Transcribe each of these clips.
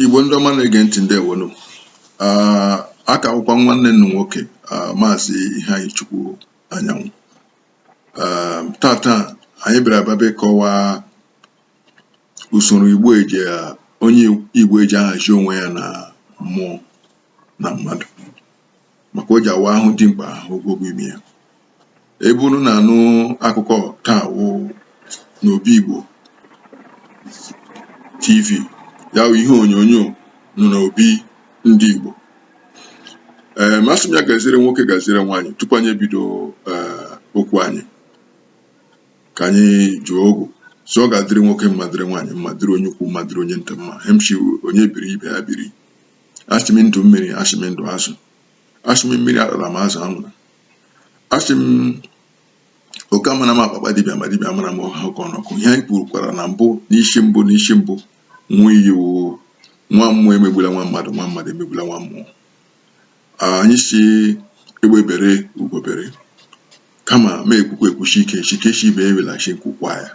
Igbo ndị ọma na-ege ntị ndewonu ah, a ka wụkwa nwanne unu nwoke ah, maazị Iheanyichukwu Anyanwụ ah, taa taa anyị bịara abịa bịa kọwaa usoro Igbo eji onye Igbo eji ahazi onwe ya na mmụọ na mmadụ maka o ji awụ a hụ dimkpa ogologo imi ya ebe unu na-anụ akụkọ taa wụ n'obi Igbo TV ya wụ ihe onyonyo nọ n'obi ndị Igbo eem asị m ya gaziere nwoke gaziere nwaanyị tupu anyị ebido eh, okwu anyị ka anyị jụọ ogu so ọ ga-adịrị nwoke mma dịrị nwaanyị mma dịrị onye ukwu mma dịrị onye nta mma ihe m shị onye biri ibe ya biri asị m ndụ mmiri asị m ndụ azụ asị m mmiri atala ma azụ anwụla asị m oke amala ụma kpaa akpa dibịa ma dibịa amala ụma hụọ oke ọnụ ọkụ ihe anyị kwurukwara na mbụ n'isi mbụ n'isi mbụ nwa iyi nwa mmụọ emegbula nwa mmadụ nwa mmadụ emegbula nwa mmụọ anyị sị egbe bere ugo bere kama ma ekwukwa ekwu sị nke sị nke sị ibe ebela sị nku kwaa ya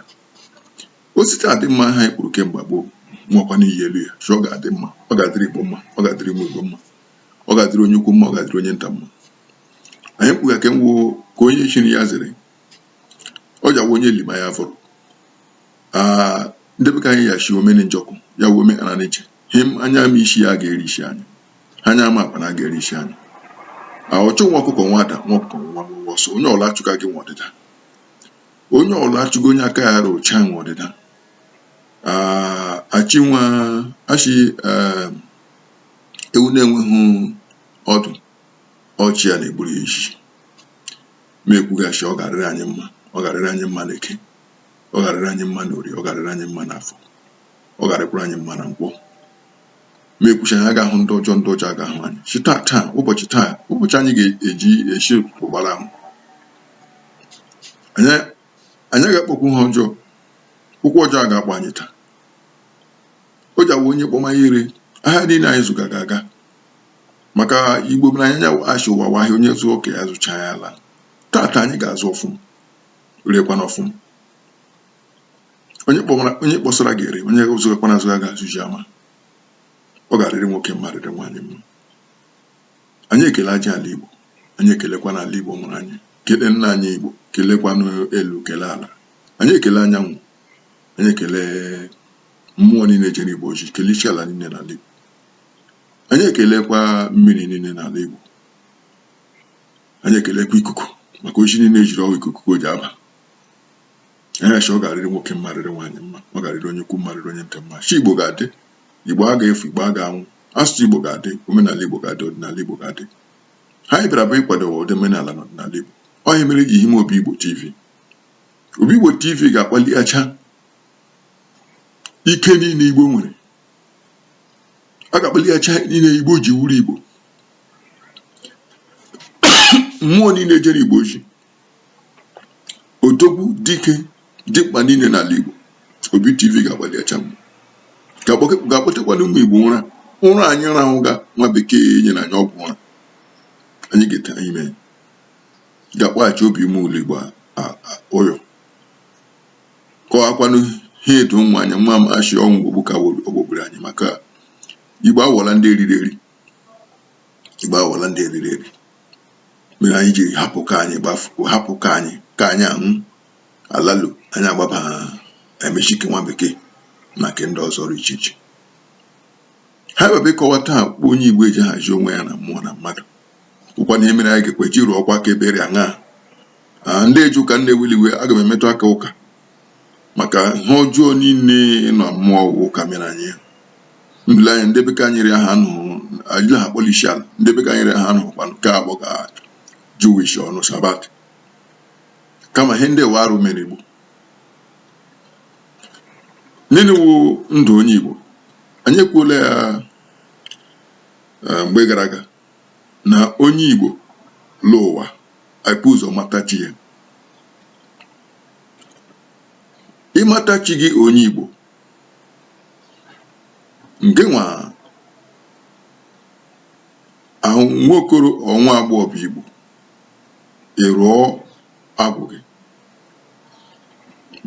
o site adị mma ha anyị kwuru kemgbe gboo nwekwa n'iyi elu ya sị ọ ga-adị mma ọ ga-adịrị igbo mma ọ ga-adịrị ụmụ igbo mma ọ ga-adịrị onye ukwu mma ọ ga-adịrị onye nta mma anyị kwuga ka nwụ ka onye chiri ya zere ọ ji awụ onye lima ya vuru ndị be ka anyị ya shi omeni njọkụ ya wuo ome ana n'iche ihe anyị ama isi ya ga-eri isi anyị ha anyị ama akpa na ga-eri isi anyị ọchụ nwa ọkụkọ nwe ada nwa ọkụkọ nwe nwe ọsọ onye ọla achụga gị nwe ọdịda onye ọla achụga onye aka ya rị ọcha nwe ọdịda Ah, asị nwa asị eh, ewu na-enweghị ọdụ ọ chi ya na-egburu ya iji ma ekwuga sị ọ ga-arịrị anyị mma ọ ga-arịrị anyị mma n'eke ọ ga-arịrị anyị mma n'orie ọ ga-arịrị anyị mma n'afọ ọ ga-arịkwara anyị mma na nkwọ ma ekwu sị anyị aga ahụ ndị ọjọọ ndị ọjọọ aga ahụ anyị shi taa taa ụbọchị taa ụbọchị anyị ga-eji isi ụtụtụ gbara ahụ anyị anyị ga-akpọkwu ha ọjọọ ụkwụ ọjọọ a ga-akpọ anyị taa o ji awụ onye kpọma ya ree ahịa niile anyị zụga ga aga maka igbo mụrụ anyị nya wụ a sị ụwa wụ ahịa onye zụọ nke ya zụchaa ya alaa taa taa anyị ga-azụ ọfụm reekwana ọfụm onye kpọmara onye kpọsara ga-ere onye zụgakwana azụ ya ga-azụ ihe ọma ọ ga-arịrị nwoke mma rịrị nwaanyị mma anyị ekele aja ala Igbo anyị ekelekwa na ala Igbo mụrụ anyị kele nna anyị Igbo kelekwanụ elu kele ala anyị ekele anyanwụ anyị ekele mmụọ niile jere Igbo ozi kele isi ala niile n'ala Igbo anyị ekelekwa mmiri niile n'ala Igbo anyị ekelekwa ikuku maka ozi niile eziri ọ wụ ikuku o ji aba anyị asị ọ ga-arịrị nwoke mma rịrị nwaanyị mma ọ ga-arịrị onye ukwu mma rịrị onye nta mma sị Igbo ga-adị Igbo aga efu Igbo aga anwụ asụsụ Igbo ga-adị omenala Igbo ga-adị ọdịnala Igbo ga-adị ihe anyị bịara bụ ịkwado ụdị omenala na ọdịnala Igbo ọ ihe mere e ji hime Obi Igbo TV Obi Igbo TV ga-akpaliacha ike niile Igbo nwere a ga-akpaliacha ihe niile Igbo ji wụrụ Igbo mmụọ niile jere Igbo ozi odogwu dike dimkpa niile n'ala Igbo Obi TV ga-akpaliacha ga-akpọtekwanụ ụmụ Igbo n'ụra ụra anyị rahụga nwa bekee nyere anyị ọgwụ ụra anyị ga-ete anyị mee ga-akpọghachi obi ime ụlọ Igbo ụyọ kọwakwanụ ihe etu ụmụ anya nwa m achị ọnwụ ogbu ka ogbobiri anyị maka Igbo awọla ndị eriri eri igbo awọla ndị eriri eri mere anyị jiri hapụ ka anyị gbafuo hapụ ka anyị ka anyị anwụ alalu anyị agbaba emechi nke nwa bekee na nke ndị ọzọ dị iche iche ha webe ịkọwa taa kpọ onye igbo eji ahazi onwe ya na mmụọ na mmadụ ọkwa na ihe mere anyị ga-ekwe ji rụọ ọkwa aka ebere aṅaa ndị eje ụka unu ewela iwe aga m emetụ aka ụka maka ihe ọjọọ niile na mmụọ ọ wụ ụka mere anyị mbele anyị ndị bekee nyere ha nụ anyị ha kpọlisi ala ndị bekee nyere ha nụ kwanụ ka a kpọga jewish ọnụ sabbath kama ihe ndị wa arụ mere igbo nini wụ ndụ onye igbo anyị ekwuola ya eh, mgbe gara aga na onye Igbo lọ ụwa epu ụzọ mata chi ya ịmata chi gị onye Igbo nke nwa ahụ nwa okoro ọ nwa agbọghọ bụ Igbo ị rụọ agwụ gị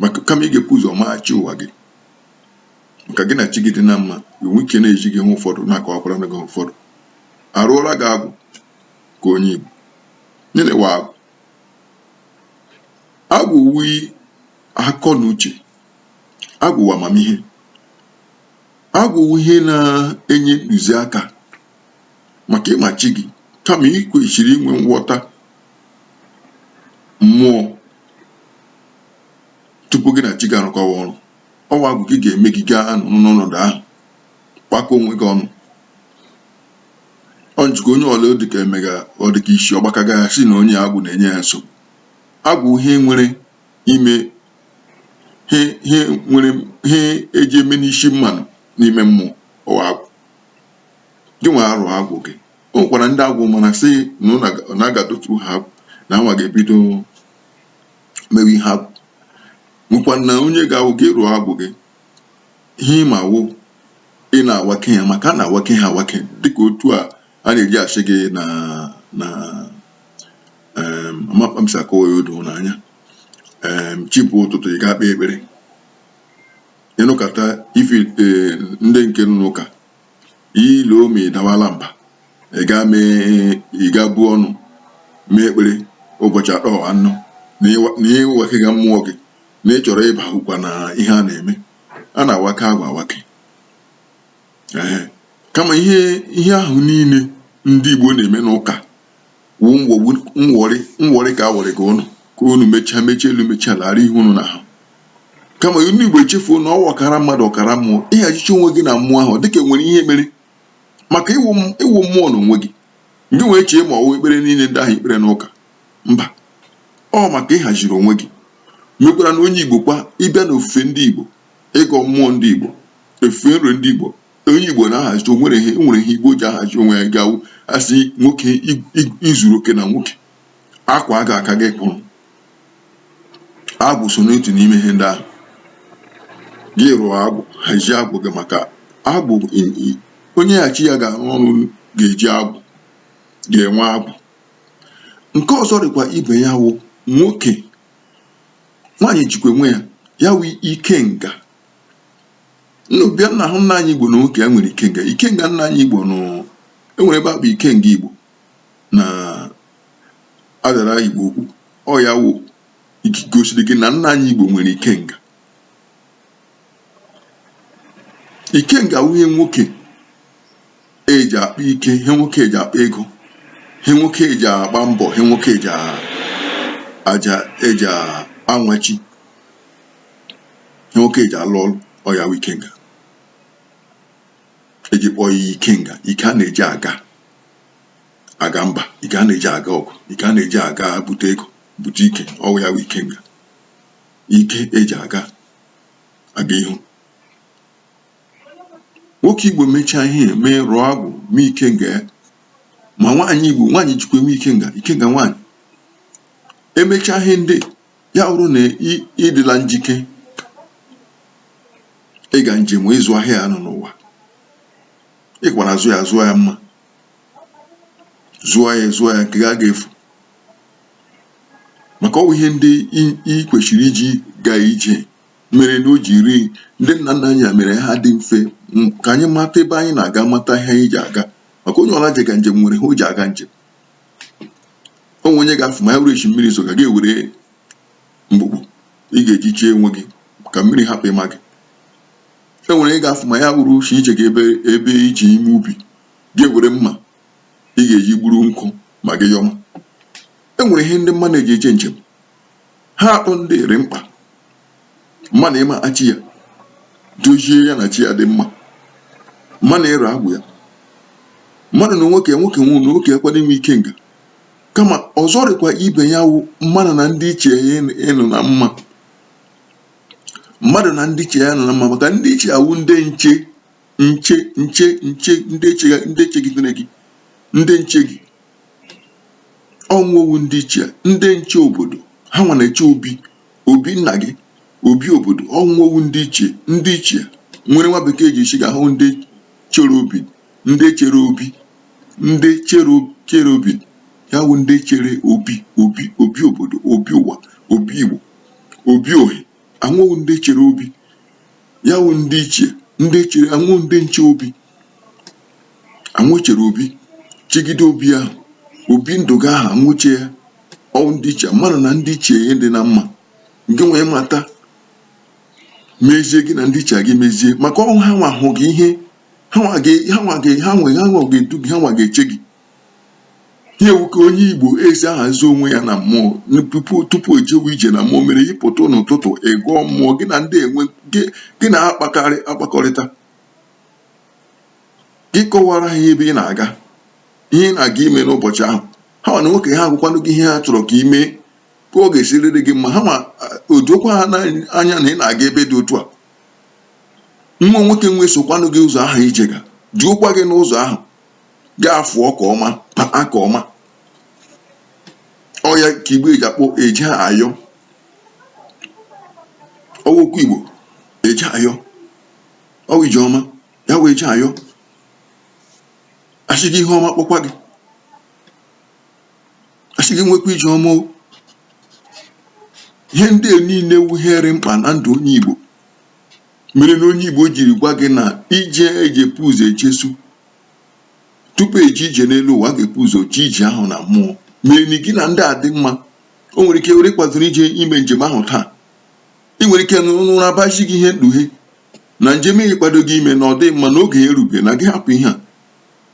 maka kama ị ga-epu ụzọ maa chi ụwa gị ka gị na chi gị dị na mma enwee ike na-ezi gị ihe ụfọdụ na-akọwakwara gị ihe ụfọdụ a rụọra gị agwụ ka onye Igbo nini wụ agwụ agwụ wụ akọ na uche agwụ wụ amamihe agwụ wụ ihe na-enye ntụziaka maka ịma chi gị kama ị kwesịrị inwe nghọta mmụọ tupu gị na chi gị arụkọwa ọrụ ọ wụ agwụ gị ga-eme gị gaa n'ọnọdụ ahụ kpakọ onwe gị ọnụ ọ njikọ onye ọla dịka emega ọ dịka isi ọ gbakaga a sị na onye agwụ na-enye ya nsogbu agwụ ihe nwere ime ihe eji eme n'isi mmanụ n'ime mmụọ ọ wụ agwụ gị nwa a rụọ agwụ gị o nwekwara ndị agwụ mara sị na a ga-edotu ha agwụ na anwa ga-ebido mewe ihe agwụ nwekwa na onye ga-awụ gị rụọ agwụ gị ihe ị ma wụ ị na-awake ya maka a na-awake ha awake dịka otu a a na-eji asị gị na na ama kpa m si akọwa ya o doo unu anya chi bọọ ụtụtụ ị ga-ekpe ekpere ịnụkata ife eh, ndị nke nọ n'ụka ile ome dawala mba ị gaa ị gaa buo ọnụ mee ekpere ụbọchị atọ anọ na ị wakega mmụọ gị na ị chọrọ ịbahụkwa na ihe a na-eme a na-awake agwụ awake kama ihe ihe ahụ niile ndị Igbo na-eme n'ụka wụ nwogbu nwọrị nwọrị ka a wọrịga unu ka unu mechaa mechaa elu mechaa ala ara ihe unu na-ahụ kama unu igbo echefuo na ọ wụ ọkara mmadụ ọkara mmụọ ị hazichaa onwe gị na mmụọ ahụ dịka nwere ihe mere maka ị wụ ị wụ mmụọ na onwe gị gị nwa echee ma ọ wụ ekpere niile ndị ahụ i kpere n'ụka mba ọ maka ịhaziri onwe gị mekwara na onye igbo kwa ịbịa na ofufe ndị igbo ịgọ mmụọ ndị igbo ofufe nro ndị igbo onye Igbo na-ahazi o nwere ihe o nwere ihe Igbo ji ahazi onwe ya ga-awụ a sị nwoke i- i- izuru oke na nwoke akwa a ga-aka gị kpụrụ agwụ so n'otu n'ime ihe ndị ahụ gị rụọ agwụ hazie agwụ gị maka agwụ i- i- onye na chi ya ga-arụ ọrụ ga-eji agwụ ga-enwe agwụ nke ọzọ dịkwa ibe ya wụ nwoke nwaanyị jikwa enwe ya ya wụ ikenga nna bịa nna hụ nna anyị Igbo na nwoke ya nwere ikenga ikenga nna anyị Igbo nụ enwere ebe a kpụ ikenga Igbo na adara Igbo Ukwu ọ ya wụ gosiri gị na nna anyị Igbo nwere ikenga ikenga wụ ihe nwoke eji akpa ike ihe nwoke eji akpa ego ihe nwoke eji agba mbọ ihe nwoke eji anwachi nwoke eji arụ ọrụ ọ ya wụ ikenga eji kpọọ ya ikenga ike a na-eji aga aga mba ike a na-eji aga ọgụ ike a na-eji aga bute ego bute ike ọ wụ ya wụ ikenga ike eji aga aga ihu nwoke igbo mechaa ihe ya mee rụọ agwụ mee ikenga ya ma nwaanyị igbo nwaanyị jikwa enwe ikenga ikenga nwaanyị emechaa ihe ndị ya bụrụ na ịdịla njike ịga njem ịzụ ahịa anọ n'ụwa ị ga-akpara azụ ya zụọ ya mma zụọ ya zụọ ya nke gị aga efu maka ọ wụ ihe ndị ị kwesịrị iji gaa ije mere na o jiri ndị nna nna anyị ya mere ha dị mfe ka anyị mata ebe anyị na-aga mata ihe anyị ji aga maka onye ọla jega njem nwere ihe o ji aga njem e nwere onye ga-afụ ma ya wụrụ eshi mmiri zoga gị ewere mgbukpu ị ga-eji chie onwe gị ka mmiri hapụ ịma gị e nwere onye ga-afụ ma ya wụrụ eshi ị jega ebe e ji eme ubi gị ewere mma ị ga-eji gburu nkụ ma gị yọma e nwere ihe ndị mmadụ na-eji eje njem ha atọ ndị rị mkpa mmadụ ịma chi ya dozie ya na chi ya dị mma mmadụ ịrụ agwụ ya mmadụ na nwoke nwoke wụ na nwoke ekwe inwe ikenga kama ọzọ rịkwa ibe ya wụ mmadụ na ndị ichie ya ịnọ na mma mmadụ na ndị ichie ya ịnọ na mma maka ndị ichie a wụ ndị nche ndị chegidere gị ndị nche gị ọ wụ ha wụ ndị ichie ndị nche obodo ha nwa na-eche obi obi nna gị obi obodo ọ wụ ha wụ ndị ichie ndị ichie nwere nwa bekee ji sịga ha ndị chere obi ndị chere obi ndị chere obi ya wụ ndị chere obi obi obi obodo obi ụwa obi igbo obi ohi awụghị ndị chere obi ya wụ ndị ichie ha wụ ndị nche obi ha nwa chere obi chegide obi ahụ obi ndụ gị ahụ ha nwa eche ya ọ wụ ndị ichie mmadụ na ndị ichie ya ịdị na mma gị wee mata mezie gị na ndị ichie gị mezie maka ọ wụ ha nwa hụ gị ihe ha nwa ga-edu gị ha nwa ga-eche gị ihe a wụ ka onye igbo si ahazi onwe ya na mmụọ tupu e jewe ije na mmụọ mere ị pụta n'ụtụtụ ị gọọ mmụọ gị na ndị nwe gị na-akpakọrịta gị kọwara ha ebe ị na-aga ihe ị na-aga ime n'ụbọchị ahụ ha nwa n'onwe ke ha agwakwanụ gị ihe ha chọrọ ka ị mee ka ọ ga-esi rịrị gị mma ha ma o dokwa ha anya na ị na-aga ebe dị otu a nwa nwoke nwe sokwanụ gị ụzọ ahụ ị jega duokwa gị n'ụzọ ahụ ga-afụ ọka ọma paa aka ọma ọ ya ka igbo eji akpọ eje ayọ ọ wụ okwu igbo eje ayọ ọ wụ ije ọma ya wụ eje ayọ a sị gị ihe ọma kpokwa gị a sị gị nwekwa ije ọma ihe ndị a niile wụ ihe rị mkpa na ndụ onye igbo mere na onye Igbo jiri gwa gị na ije eji ebu ụzọ eje so tupu eje ije n'elu ụwa ga-ebu ụzọ jee ije ahụ na mmụọ mere na gị na ndị a dị mma o nwere ike were kwadoro ije ime njem ahụ taa ị nwere ike n'ụra abachi gị ihe mkpughe na njem ahụ ị kwado gị ime na ọ dịghị mma na oge ya erube na gị hapụ ihe a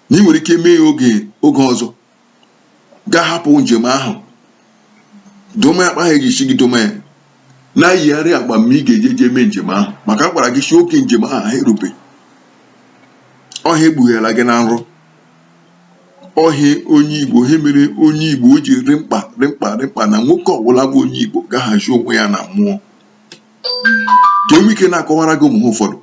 na ị nwere ike mee ya oge oge ọzọ ga-ahapụ njem ahụ dome akpa ahụ eji isi gị dome ya na-eyigharị agba mgbe ị ga-eje jee mee njem ahụ maka a gwara gị si oge njem ahụ erube ọ ihe ekpughere gị na nrọ ọ ihe onye igbo ihe mere onye igbo o ji rị mkpa rị mkpa rị mkpa na nwoke ọbụla bụ onye igbo ga-ahazi onwe ya na mmụọ ka enwe ike na-akọwara gị ụmụ ihe ụfọdụ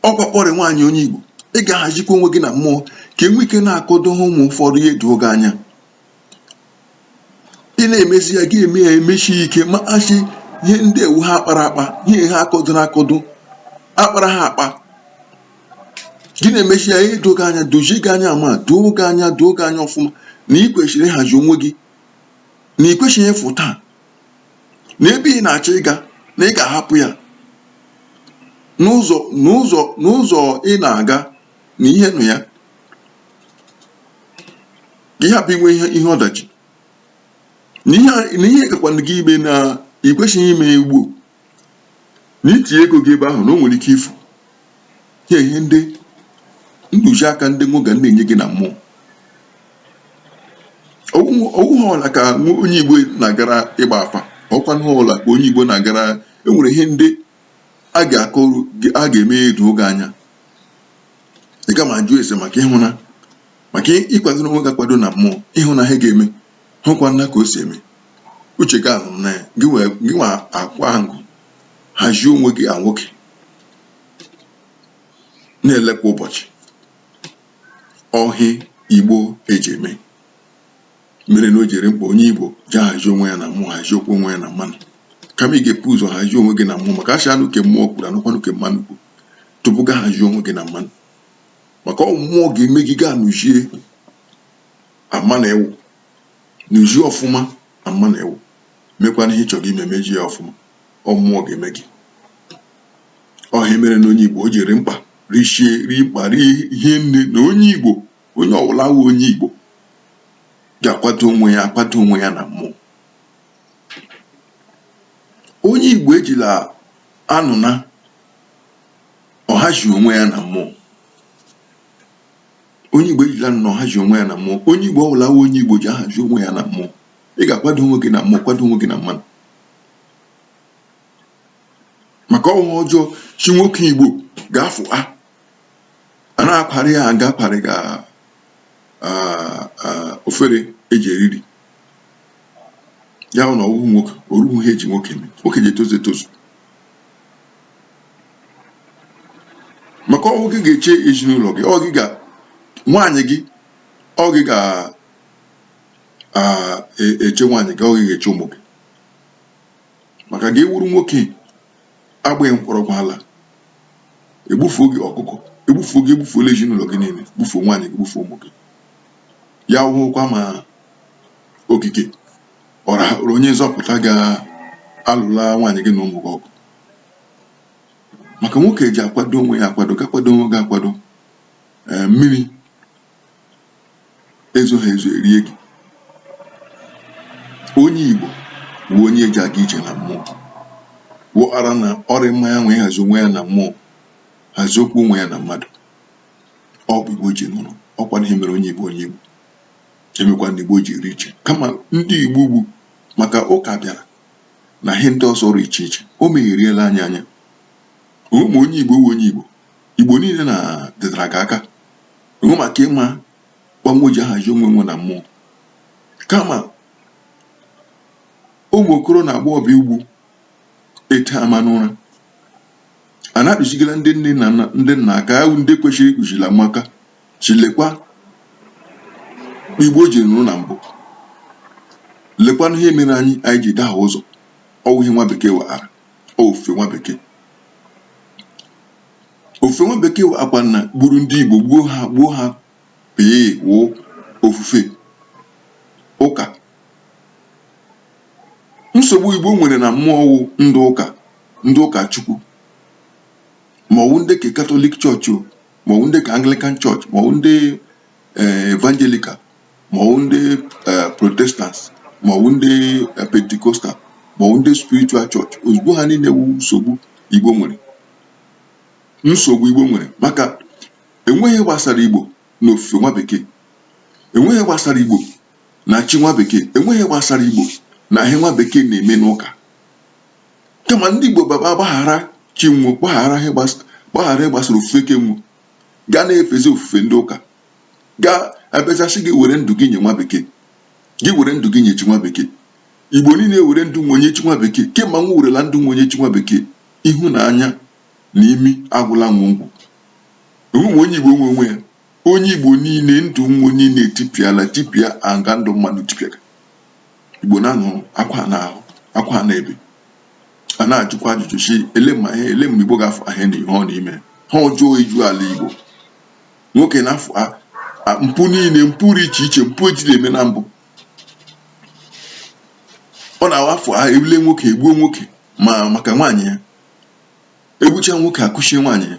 ọkwa kpọrị nwaanyị onye Igbo ị ga-ahazikwa onwe gị na mmụọ ka enwe ike na-akọdo ha ụmụ ụfọdụ ihe edo gị anya ị na-emezi ya gị eme ya emesi ike ma asị ihe ndị a wụ ihe akpara akpa ihe ha akọdo na akọdo akpara ha akpa gị na-emesi ya edo gị anya dozie gị anya ma doo gị anya doo gị anya ọfụma na ị kwesịrị ịhazi onwe gị na ị kwesịghị ịfụ taa na ebe ị na-achọ ịga na ị ga-ahapụ ya n'ụzọ n'ụzọ n'ụzọ ị na-aga na ihe nọ ya ka ị hapụ inwe ihe ihe ọdachi na ihe na ihe gakwanụ gị ime na ị kwesịghị ime ya ugbu a. na itinye ego gị ebe ahụ na o nwere ike ifu ya ihe ndị ntụziaka ndị nwe gị na-enye gị na mmụọ ọwụghị ọla ka onye igbo na-agara ịgba afa ọkwa nụ ọla ka onye igbo na-agara enwere ihe ndị a ga-akọrụ a ga-eme edo gị anya ị ga ma jụọ ese maka ịhụ na maka ịkwado onwe gị akwado na mmụọ ịhụ na ihe ga-eme hụkwa nna ka o si eme uche gị ahụ na gị nwa akwụ ahụ hazie onwe gị a nwoke na-ele kwa ụbọchị ọ ihe igbo eji eme mere na o ji rị mkpa onye igbo ji ahazi onwe ya na mmụọ haziekwuo onwe ya na mmanụ kama ị ga-ebu ụzọ hazie onwe gị na mmụọ maka asị a nụ ke mmụọ kwuru a nụkwanụ ke mmanụ kwuru tupu gị ahazie onwe gị na mmanụ maka ọ mmụọ ga-eme gị gaa nụzie ama na ewu nụzie ọfụma ama na ewu mekwana ihe ịchọrọ ime mezie ya ọfụma ọ mmụọ ga-eme gị ọ ihe mere na onye igbo o ji rị mkpa richie rị mkpa rie nne na onye igbo onye ọbụla wụ onye igbo ga-akwado onwe ya akwado onwe ya na mmụọ onye igbo ejila anụ na ọ hazi onwe ya na mmụọ onye igbo ejila nnọọ ahazi onwe ya na mmụọ onye igbo ọbụla wụ onye igbo ji ahazi onwe ya na mmụọ ị ga-akwado onwe gị na mmụọ kwado onwe gị na mmanụ maka ọwụ ọjọọ si nwoke igbo ga-afụ a a na-akparị ya aga akparị ga ofere eji eriri ya na ọwụhụ nwoke oruhu ihe eji nwoke eme nwoke ji etozu etozu maka ọwụ gị ga-eche ezinụlọ gị ọ gị ga nwaanyị gị ọ gị ga-eche e, nwaanyị gị ọ gị ga-eche ụmụ gị maka gị awụrụ nwoke agbaghị mkpọrọgwụ ala egbufuo gị ọkụkọ egbufuo gị egbufuola ezinụlọ gị niile gbufuo nwaanyị gị gbufuo ụmụ gị ya wụkwa ma okike ọra onye nzọpụta ga-alụla nwaanyị gị na ụmụ gị ọgụ maka nwoke ji akwado onwe ya akwado gị akwado onwe gị akwado ee mmiri ezoghị ezo erie gị onye igbo wụ onye eji aga ije na mmụọ wụara na ọ rị mma ya nwee hazi onwe ya na mmụọ haziekwuo onwe ya na mmadụ ọ kpa igbo ji nọrọ ọkwanụ ihe mere onye igbo onye igbo emekwa na igbo ji rị iche kama ndị igbo ugbu maka ụka bịara na ihe ndị ọzọ rị iche iche o megheriela anyị anya ọwụ ma onye igbo wụ onye igbo igbo niile na dịtara gị aka ọwụ maka ịma kpa nwe ji ahazi onwe nwe na mmụọ kama ụmụ okoro na agbọghọbịa ugbu ete ama n'ụra a na-akuzigara ndị nne na ndị nna aka ahụ ndị kwesịrị ikuzila ụmụaka si lekwa kpa igbo ji nọrọ na mbụ lekwanụ ihe mere anyị anyị ji dahie ụzọ ọwụ ihe nwa bekee webara ofufe nwa bekee ofufe nwa bekee akwa na gburu ndị igbo gbuo ha gbuo ha pee wụ ofufe ụka nsogbu igbo nwere na mmụọ wụ ndị ụka ndị ụka chukwu ma ọwụ ndị ke katọlik chọọchị o ma ọwụ ndị ke Anglican Church ma ọwụ ndị eh, Evangelical ma ọwụ ndị eh, Protestants ma ọwụ ndị eh, Pentecostal ma ọwụ ndị Spiritual Church ozugbo ha niile wụ nsogbu Igbo nwere nsogbu Igbo nwere maka enweghị ihe gbasara Igbo na ofufe nwa bekee enweghị ihe gbasara Igbo na chi nwa bekee enweghị ihe gbasara Igbo na ihe nwa bekee na-eme n'ụka kama ndị Igbo baba gbaghara chi nwo gbaghara gbaghara ihe gbasara ofufe ke nwo gaa na-efezi ofufe ndị ụka gaa abịaza sị gị were ndụ gị nye nwa bekee gị were ndụ gị nye chi nwa bekee igbo niile were ndụ nwo nye chi nwa bekee kemgbe nwo werela ndụ nwo nye chi nwa bekee ihu na anya na imi agwụla nwe ngwụ onweghị onye igbo nwe onwe ya Onye Igbo niile ndụ wo niile etipịala tipịa anga ndụ mmadụ tipịaga Igbo na-anụ akwa na ahụ akwa na ebe a na-ajụkwa ajụjụ si ele ma ihe ele mgbe Igbo ga-afụ ahịa na ihe ọ na ime ihe ọjọọ eju ala Igbo nwoke na-afụ mpụ niile mpụ dị iche iche mpụ ejiri eme na mbụ ọ na-awafụ ha ebule nwoke egbuo nwoke ma maka nwaanyị ya egbucha nwoke akụchie nwaanyị ya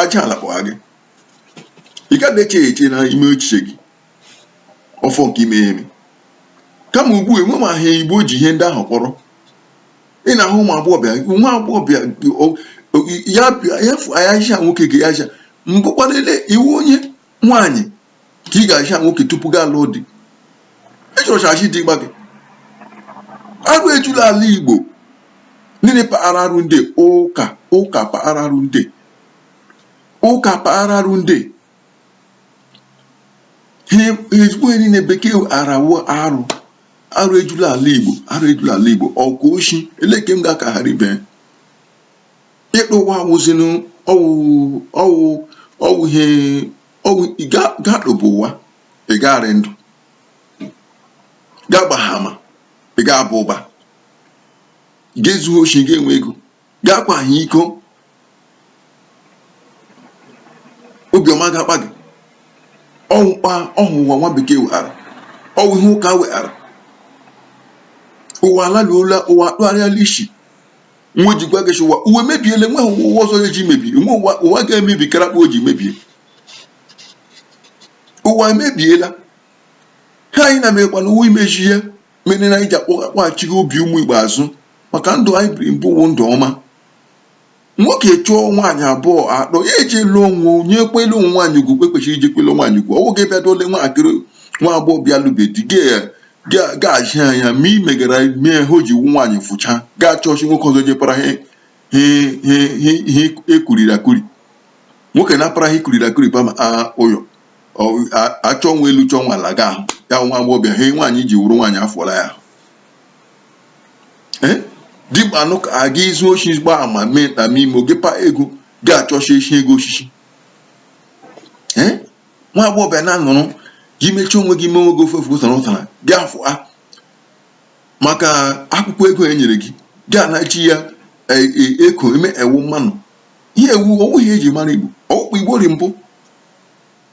aja ala kpọgha gị ị gaghị eche eche na ime echiche gị ọfọ nke ime eme kama ugbu a enwe ma ha igbo ji ihe ndị ahụ kpọrọ ị na-ahụ ụmụ agbọghọbịa nwa agbọghọbịa ya ya fụ ayaja nwoke ga yaja mbụ kwa n'ele iwu onye nwaanyị ka ị ga-ahịa nwoke tupu gị alụọ di ịchọrọchachi dị gba gị arụ ejula ala igbo niile paghara arụ ndị ụka paghara arụ ndị ụka paghara arụ ndị ezigbo ihe niile bekee arawo arụ arụ ejula ala igbo arụ ejula ala igbo ọkụ oshi ele ke m ga-aka ghara ibe ikpu ụwa wụzinụ ọwụ ọwụ ọwụ ihe ọwụ ị ga- ga-akpụba ụwa ị ga-arị ndụ ga-agbaha ama ị ga-aba ụba ga-ezu oshi ga-enwe ego ga-akwaha iko obiọma ga-akpa gị ọwụ mkpa ọhụ ụwa nwa bekee weghara ọwụ ihe ụka weghara ụwa alaluola ụwa akpụgharịala isi nwa ji gwa gị sị ụwa emebiele nwe ụwa ọzọ ya ji mebi nwe ụwa ụwa ga-emebi kara kpa o ji mebie ụwa emebiela ha anyị na-emekwa na ụwa imeji ihe mere na anyị ji akpọghachi gị obi ụmụ igbo azụ maka ndụ anyị biri mbụ wụ ndụ ọma nwoke chọọ nwaanyị abụọ atọ ya eji lụọ onwe onye kwele onwe nwaanyị ugwu kwe kwesịrị iji kwele nwaanyị ugwu ọwụ gị bịa dole nwatakịrị nwa agbọghọ bịa lụbe di gị ga-achị ha ya ma imegara mee ha o ji wu nwaanyị fụcha ga-achọchi nwoke ọzọ jepara ha ekuriri akuri nwoke na-apara ha ikuriri akuri pama ụyọ achọ nwa elu chọọ nwa ala ga ahụ ya nwa agbọghọbịa ha nwaanyị ji wuru nwaanyị afọla ya dịgba anụ ka aga izu oshi gba ama mee na ime oge pa ego ga-achọchi echi ego osisi nwa agbọghọbịa na-anụrụ gị mechie onwe gị menwe gị ofe ofe ụtara ụtara gị afụ a maka akwụkwọ ego e nyere gị gị ana-eji ya e, e, eko eme ewu mmanụ ihe ewu ọwụ ihe eji mara igbo ọ wụ kpa igbo rị mbụ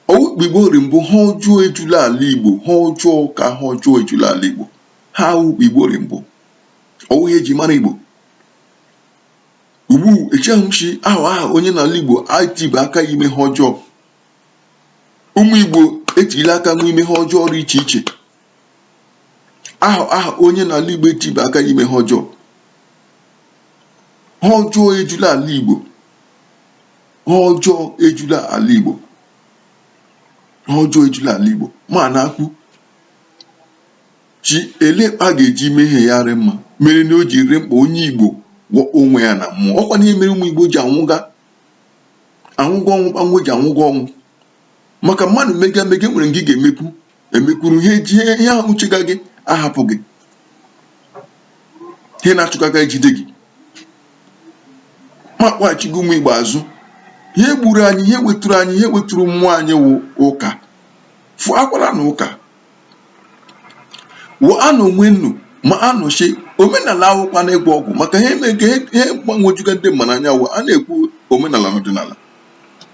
ọ wụ kpa igbo rị mbụ ihe ọjọọ ejula ala igbo ihe ọjọọ ka ihe ọjọọ ejula ala igbo ihe a wụ kpa igbo rị mbụ ọwụ ihe eji mara igbo ugbu echeghị m shi aha aha onye n'ala igbo etiba aka ya ime ihe ọjọọ ụmụ Igbo etila aka nwe ime ihe ọjọọ rị iche iche aha aha onye n'ala Igbo etiba aka ime ihe ọjọọ ihe ọjọọ ejula ala Igbo ihe ọjọọ ejula ala Igbo ihe ọjọọ ejula ala Igbo ma a na-ekwu shi ele kpa a ga-eji mee ihe ya rị mma mere na o ji rị mkpa onye Igbo gwọọ onwe ya na mmụọ ọkwa na ihe mere ụmụ Igbo ji anwụga anwụga ọnwụ kpa nwe ji anwụga ọnwụ maka mmadụ mega mega e nwere nke ị ga-emekwu emekwuru ihe ji ihe ahụ chega gị ahapụ gị ihe na-achụga gị ejide gị ma kpọghachi gị ụmụ igbo azụ ihe gburu anyị ihe weturu anyị ihe weturu mmụọ anyị wụ ụka fụ akwara na ụka wụ anụ onwe nnu ma anụ shi omenala awụkwa na ịgwọ ọgwụ maka ihe eme nke ihe gbagwojuga ndị mmanụ anya wụ a na-ekwu omenala na ọdịnala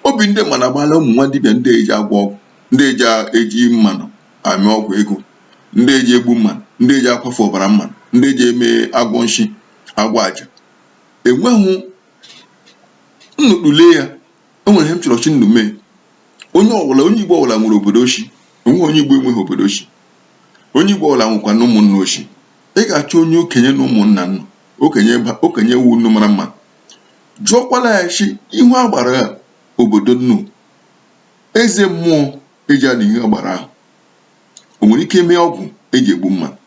obi ndị mmanụ agbaala ụmụ nwa dibịa ndị eji agwọ ọgwụ ndị eji eji mmanụ eme ọgwụ ego ndị eji egbu mmanụ ndị eji akwafu ọbara mmanụ ndị eji eme agwọ nshi agwọ aja enweghị nnukpule ya enwere ihe m chọrọ shi nnu mee onye ọbụla onye igbo ọbụla nwere obodo o shi enweghị onye igbo enweghị obodo o shi onye igbo ọbụla nwekwa na ụmụnna o shi ị ga-achọ onye okenye na ụmụnna nnu okenye okenye wụ nnu mara mma jụọkwala ya shi ihu agbara obodo nnu eze mmụọ eji adị ihe agbara ahụ o nwere ike mee ọgwụ eji egbu mmanụ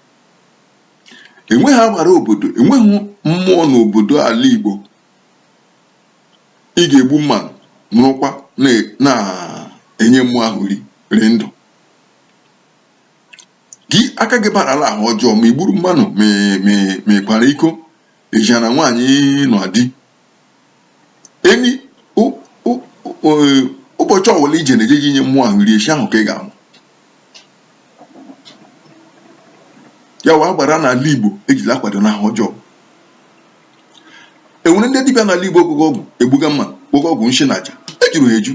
enweghị agbara obodo enweghị mmụọ n'obodo ala igbo ị ga-egbu mmanụ nọrọkwa na-enye mmụọ ahụ nri rị ndụ gị aka gị barala ihe ọjọọ ma igburu mmanụ ma ịkwara iko ejina nwaanyị nọ di enyi ụbọchị ọwụla ije na-eje gị nye mmụọ ahụ nri eshi ahụ ka ị ga-anwụ ya wụ agbara n'ala Igbo ejila akwado n'ihe ọjọọ enwere ndị dibịa n'ala Igbo agwọga ọgwụ egbuga mma gwọga ọgwụ nshi na aja ejuru ha eju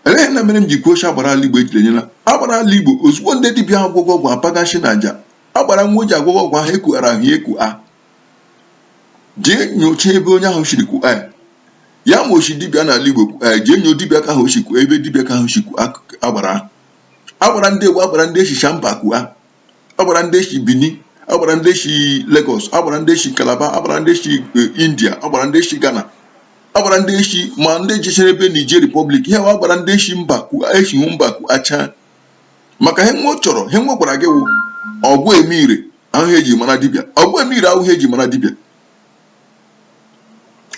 eleghị na mere m ji kwuo shi agbara ala Igbo ejiri enyela agbara ala Igbo ozugbo ndị dibịa ahụ gwọga ọgwụ apaga nshi na aja agbara nwa o ji agwọga ọgwụ ahụ ekughara ahụ ya eku a jee nyocha ebe onye ahụ shiri kuo ya ya ma o shi dibịa n'ala Igbo jee nyo dibịa ka ahụ o shi kuo ebe dibịa ka ahụ shi kuo agbara agbara ndị egwu agbara ndị e shicha mba kuo agbara ndị si Benin agbara ndị si Lagos agbara ndị si Calabar agbara ndị si eh, India agbara ndị si Ghana agbara ndị si ma ndị jichere ebe Niger Republic ihe agbara ndị si mba ku esi hụ mba ku acha maka ihe nwe chọrọ ihe nwe gwara gị wụ ọgwụ ime ire awụhụ eji mara dibịa ọgwụ ime ire awụhụ ihe eji mara dibịa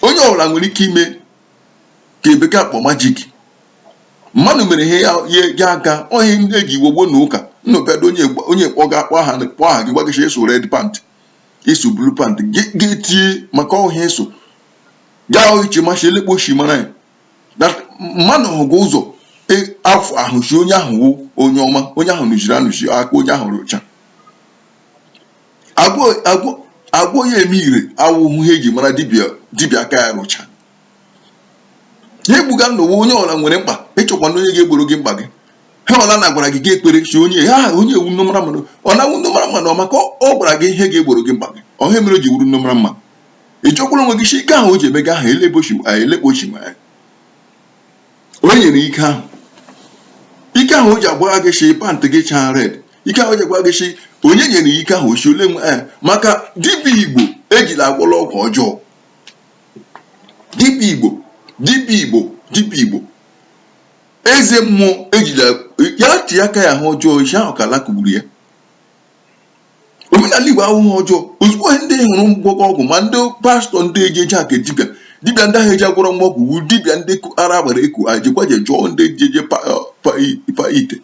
onye ọbụla nwere ike ime ke bekee akpọ magic mmadụ mere ihe ya ya ga aga ohe ndị eji iwe gboo na ụka nnọbịado onye gba- onye kpọ ga akpọ aha kpọ aha gị gwagasị eso red pant iso blue pant Ge- ga-etinye maka ọhịa eso ga-eche ma shi elee kpa o shi mara ya That mmadụ hụga ụzọ e- afụahụ shi onye ahụ wụ onye ọma onye ahụ nụchiri anụchi aka onye ahụ rụcha agwọ agwọ agwọ ya eme ire awụhụ ihe eji mara dibịa dibịa aka ya rụcha ihe egbuga ndị ụwa onye ọla nwere mkpa ịchọkwa na onye ga-egboro gị mkpa gị ihe ọla na gwara gị ga ekwere si onye ha onye ewu nne mara mmadụ ọ na-awụ nne mara mmadụ ọ maka ọ gwara gị ihe ga-egboro gị mkpa gị ọha mere o ji wuru nne mara mma ị jụkwala onwe gị si ike ahụ o ji emega ahụ elee be o shi elee kpa o shi ma ya onye nyere ike ahụ ike ahụ o ji agwara gị shi pantị gị chaa red ike ahụ o ji agwara gị shi onye nyere ike ahụ o si ole nwe ya maka dibịa igbo ejila agwọla ọgwụ ọjọọ dibịa igbo dibịa igbo dibịa igbo eze mmụọ ejila ya ti aka ya ihe ọjọọ isi ahụ ka ala kugburu ya omenala Igbo awụhụ ihe ọjọọ ozugbo ihe ndị hụrụ gwọga ọgwụ ma ndị pastọ ndị ejeje aka dibịa dibịa ndị ahụ eji agwọrọ nwa ọgwụ wu dibịa ndị ara agbara eku ha jekwa je jụọ ndị eji eje pa ite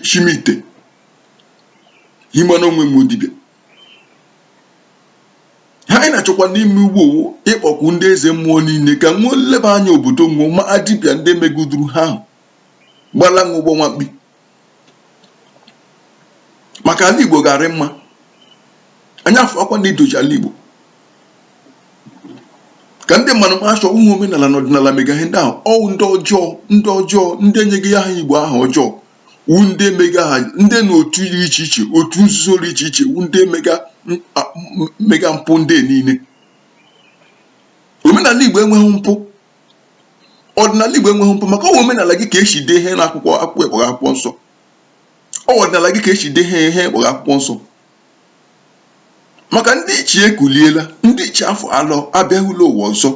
chimite himana onwe m dibịa ihe anyị na-achọkwa n'ime ugbu a wụ ịkpọku ndị eze mmụọ niile ka nwe leba anya obodo nwụọ ma dibịa ndị megiduru ha ahụ gbala nwa ụgbọ nwamkpi maka ala Igbo ga-arị mma anyị afụakwa na idoji ala Igbo ka ndị mmadụ ma shi ọ wụhụ omenala na ọdịnala mega ihe ndị ahụ ọ wụ ndị ọjọọ ndị ọjọọ ndị enyega aha Igbo aha ọjọọ wu ndị mega ya ndị na otu dị iche iche otu nzuzo dị iche iche wu ndị mega mega mpụ ndị niile omenala Igbo enweghị mpụ ọdịnala Igbo enweghị mpụ maka ọwụ omenala gị ka esi dee ihe n'akwụkwọ akpọrọ akwụkwọ nsọ ọwụ ọdịnala gị ka esi dee ihe akpọrọ akwụkwọ nsọ maka ndị ichie ekuliela ndị ichie afọ alọ abịaghịla ụwa ọzọ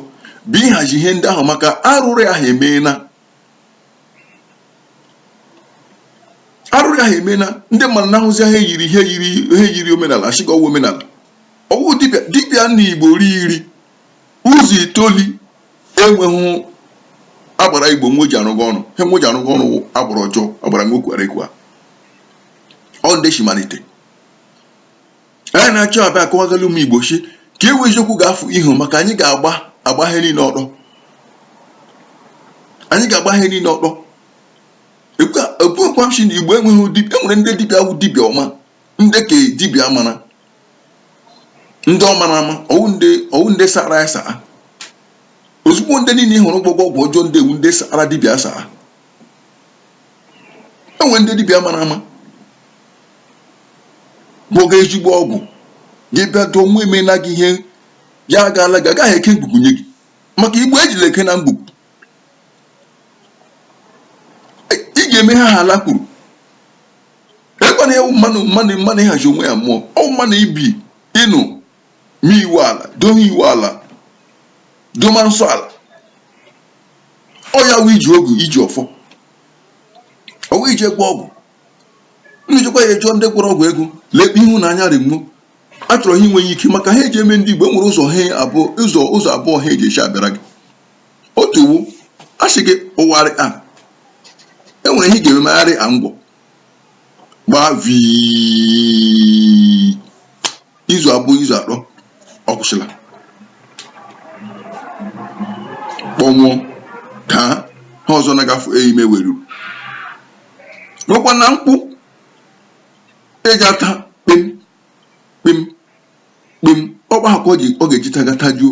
bụ ịhazi ihe ndị ahụ maka arụrụ ahụ emeela arụrụ ahụ emeela ndị mmadụ na-ahụzi ihe yiri omenala asịga ọwụ omenala ọwụ dibịa na igbo rị iri Ụzọ itoli enweghị agbara Igbo nwe ji arụga ọrụ ihe nwe ji arụga ọrụ agbara ọjọọ agbara nwe kwara ekwu a ọ ndị si malite anyị na-achọ abịa akọwagala ụmụ Igbo si ka enwee eziokwu ga-afụ ihu maka anyị ga-agba ihe niile ọtọ anyị ga-agba ihe niile ọtọ ekwuekwa m si na Igbo enweghị dibịa enwere ndị dibịa wụ dibịa ọma ndị ka dibịa mara ndị ọ mara ama ọwụ ndị sara ya saa ozugbo ndị niile ị hụrụ gwọga ọgwụ ọjọọ ndị ọwụ ndị sara dibịa saa enwe ndị dibịa mara ama gwọga ezigbo ọgwụ gị bịa dụọ nwa emeela gị ihe ya agaala gị agaghị eke ngwugwu nye gị maka igbo ejila eke na ngwugwu ị ga-eme ihe ala kwuru ekwana ewu mmanụ ịhazi onwe ya mmụọ ọwụ mmanụ ibi ịnụ ma iwu ala dowe iwu ala doma nsọ ala ọ ya wụ iji ogu iji ọfọ ọwụ ije gwọ ọgwụ unu jekwa ya ejụọ ndị gwọrọ ọgwụ ego lekpe ịhụnanya rimmo a chọrọ ha inweghị ike maka ha eji eme ndị Igbo enwere ụzọ abụọ ha eji esi abịara gị otu wụ a sị gị ụgharị a e nwere ihe ị ga-eme megharị a ngwọ gbaa vii izu abụọ izu atọ ọ kwụsịla kpọnwụọ ka ha ọzọ na-agafe eime weruru nwekwa na mkpụ eji ata kpem kpem kpem ọkpa ahụ ka ọ ga-eji taga tajuo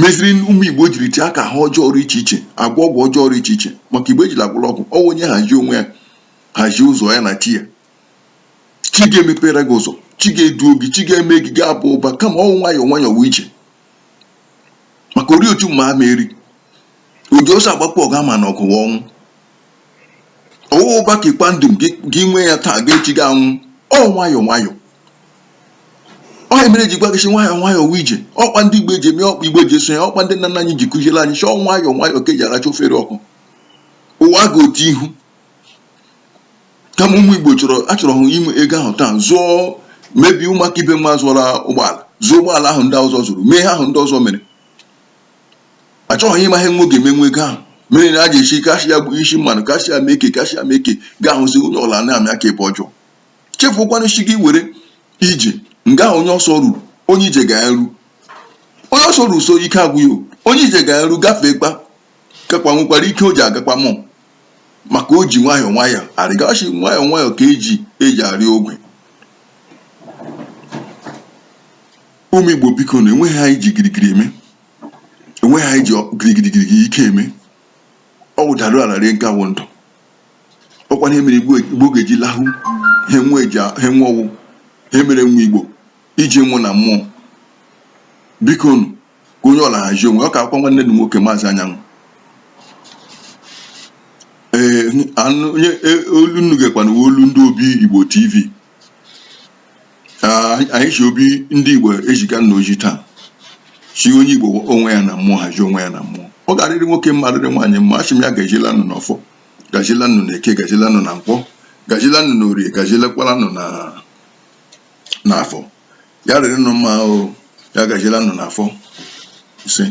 meziri ụmụ Igbo jiri tie aka ihe ọjọọ rụ iche iche agwọ ọgwụ ọjọọ rụ iche iche maka Igbo ejila agwọla ọgwụ ọwụ onye hazie onwe ya hazie ụzọ ya na chi ya chi ga-emepere gị ụzọ chi ga-eduo gị chi ga-eme gị ga-aba ụba kama ọwụ nwayọọ nwayọọ wụ ije maka ori otu mma ama eri oji ọsọ agbakwu ọgụ ama na ọgụ wụ ọnwụ ọwụ ụba ka ịkwa ndụ gị nwee ya taa gaa echi gị anwụ ọ nwayọọ nwayọọ ọ ya mere ji gwa gị si nwayọọ nwayọọ wụ ije ọkpa ndị igbo eji eme ọkpa igbo eji eso ya ọkpa ndị nna nna anyị ji kụziere anyị si ọ nwayọọ nwayọọ ka eji aracha ofere ọkụ ụwa ga otu ihu kama ụmụ igbo achọrọ hụ inwe ego ahụ taa zụọ mebie ụmụaka ibe m azụọla ụgbọala zụọ ụgbọala ahụ ndị ọzọ zụrụ mee ihe ahụ ndị ọzọ mere achọghị ịma ihe nwa ga-eme nwa ego ahụ mere na a ga-esi kasị ya bụ isi mmanụ kasị ya mee ike kasị ya mee ike ga-ahụzi onye ọla na-amị aka ebe ọjọọ chefukwana isi gị were ije nga ahụ onye ọsọ ruru onye ije ga-eru onye ọsọ ruru so ike agwụ ya o. onye ije ga-eru gafee kpa kakwa nwekwara ike o ji agakwa mụ maka o ji nwayọọ nwayọọ arịga sị nwayọọ nwayọọ ka eji eji arị ogwe ụmụ Igbo biko nụ enweghị ihe anyị ji girigiri eme enweghị ihe anyị ji girigiri girigiri ike eme ọ wụ dara ala rie nke a wụ ndụ ọkwa ihe mere igbo ga-eji lahụ ha enwe ọ wụ ihe mere nwa igbo iji nwụ na mmụọ biko nụ ka onye ọla hazie onwe ọ kakwa nwanne unu nwoke maazị anyanwụ ee onye e, olu unu gekwanụ olu ndị obi igbo tv anyị si obi ndị Igbo ejiga na ọjị taa sị onye Igbo onwe ya na mmụọ hazie onwe ya na mmụọ ọ ga-arịrị nwoke mma arịrị nwaanyị mma asị m ya gajila nụ n'ọfọ gajila nụ na eke gajila nụ na nkwọ gajila nụ na orie gajilekwala nụ n'afọ ya rịrị nụ mma o ya gajila nụ n'afọ isee